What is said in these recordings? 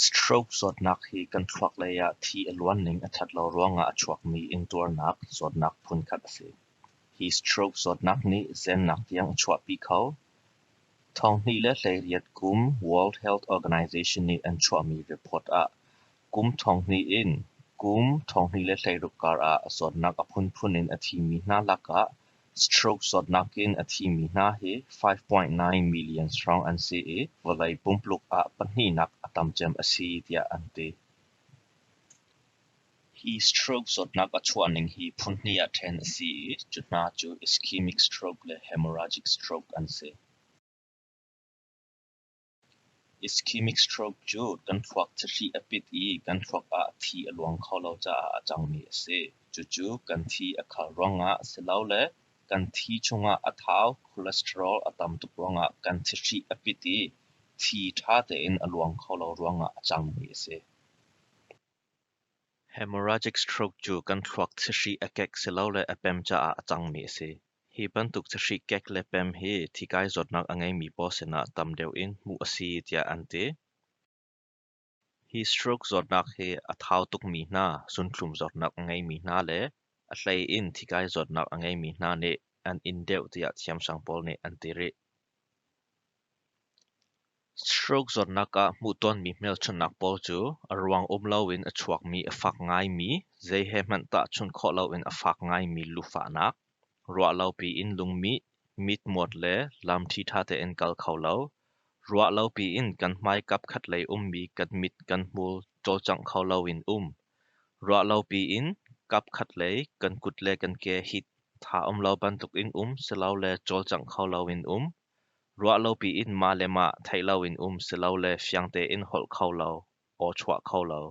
Stroke zawtnak hi kan thluaklei ah thi a luan ning a ṭhat lo ruangah a chuakmi ingtuarnak zawtnak phunkhat a si. Hi stroke zawtnak nih zennak tiang a chuahpi kho. Thonghnih le hleiriat kum World Health Organization nih an chuahmi report ah Kum ṭhawnghnih in kum ṭhawnghnih le hleiruk karah zawtnak a phunphun in a thimi hna lakah stroke zawtnak in a thimi hna hi five-point nine million strong an si i vawlei pumpluk ah pahnihnak a tam cem a si tiah an ti. Hi stroke zawtnak a chuahning hi phunhnih ah ṭhen a si i cu hna cu ischemic stroke le hemorrhagic stroke an si. Ischemic stroke cu kan thluak thahri a pit i kan thluak ah thi a luang kho lo caah a cangmi a si. Cucu kan thi a khal ruangah silole kan thi chungah a thau cholesterol a tam tuk ruangah kan thahri a pit i thi ṭha tein a luang kho lo ruangah a cangmi a si. Hemorrhagic stroke cu kan thluak thliahri a kek silole a pem caah a cangmi a si. Hi bantuk thliahri kek le pem hi thikai zawtnak a ngeimi paw sinah tam deuh in hmuh a si tiah an ti. Hi stroke zawtnak hi a thau tukmi hna, zunthlum zawtnak a ngeimi hna le a hlei in thikai zawtnak a ngeimi hna nih an in deuh tiah thiamsang pawl nih an ti rih. Stroke zawtnak ah hmuh tawnmi hmelchunhnak pawl cu a ruang um loin a chuakmi, a fak ngaimi, zei he hmanh tahchunh khawh loin a fak ngaimi lufahnak, ruahlopi in lungmih, mitmuat le lam ṭhiṭha tein kal kho lo, ruahlopi in kan hmaikap khatlei ummi kan mit kan hmul cawlcangh kho loin um, ruahlopi in kapkhatlei kan kut le kan ke hi tha um lo bantukin um silole cawlcangh kho loin um. Ruah lopi in mah le mah theih loin um silole fiang tein holh kho lo, aw chuah kho lo.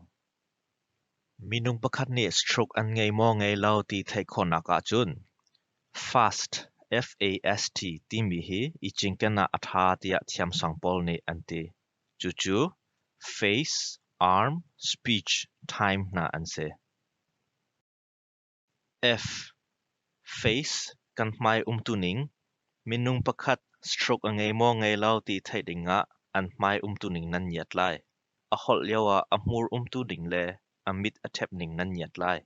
Minung pakhat nih stroke an ngei maw ngei lo ti theih khawhnak ahcun FAST, F-A-S-T timi hi i cinken ah a ṭha tiah thiamsang pawl nih an ti. Cucu face, arm, speech, time hna an si. F. Face kan hmai umtuning minung pakhat stroke a ngei maw ngei lo ti theih dingah an hmai umtuning nan ngiat lai. A holh lioah a hmur umtu ding le a mit a ṭhep ning nan ngiat lai.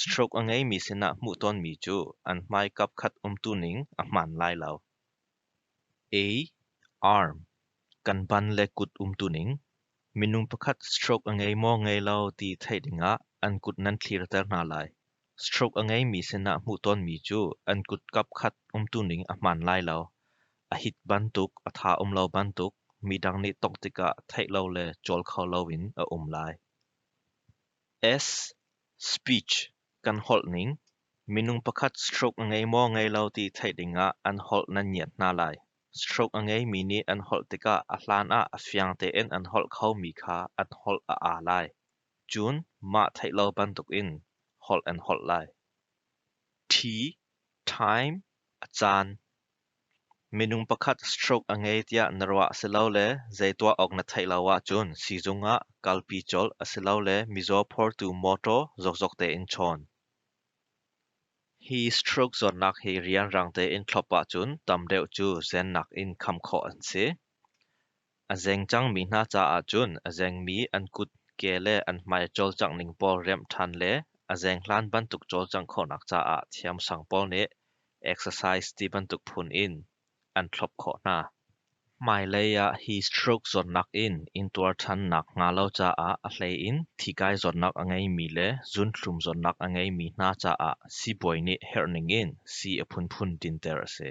Stroke a ngeimi sinah hmuh tawnmi cu an hmaikap khat umtuning a hmaan lai lo. Ei, arm, kan ban le kut umtuning minung pakhat stroke a ngei maw ngei lo ti theih dingah an kut nan thlirter hna lai. Stroke a ngeimi sinah hmuh tawnmi cu an kut kapkhat umtuning a hmaan lai lo. A hit bantuk, a tha um lo bantuk midang nih tawk tikah theih lo le cawl kho loin a um lai. S, speech Kan holh ning, minung pakhat stroke a ngei maw ngei lo ti theih dingah an holh nan ngiat hna lai. Stroke a ngeimi nih an holh tikah a hlan ah a fiang tein an holh khomi kha an holh a aa lai. Cun mah theih lo bantukin holh an holh lai. Ṭhi, time, a caan. Minung pakhat stroke a ngei tiah na ruah asilole zei tuah awk na theih lo ahcun siizung ah kalpi colh asilole mizaw phortu mawṭaw zokzok tein chawn. Hi stroke zawtnak hi rianrang tein thlop ahcun tam deuh cu zennak in kham khawh an si. A zeng cangmi hna caah cun a zengmi an kut, ke le an hmai cawlcangh ning pawl remh ṭhan le a zeng hlan bantuk cawlcangh khawhnak caah thiamsang pawl nih exercise ti bantuk phun in an thlawp khawh hna. Hmailei ah hi stroke zawtnak in intuar ṭhan nakhnga lo caah a hleiin thikai zawtnak a ngeimi le zunthlum zawtnak a ngeimi hna caah sibawi nih herh ningin sii a phunphun dinter a si.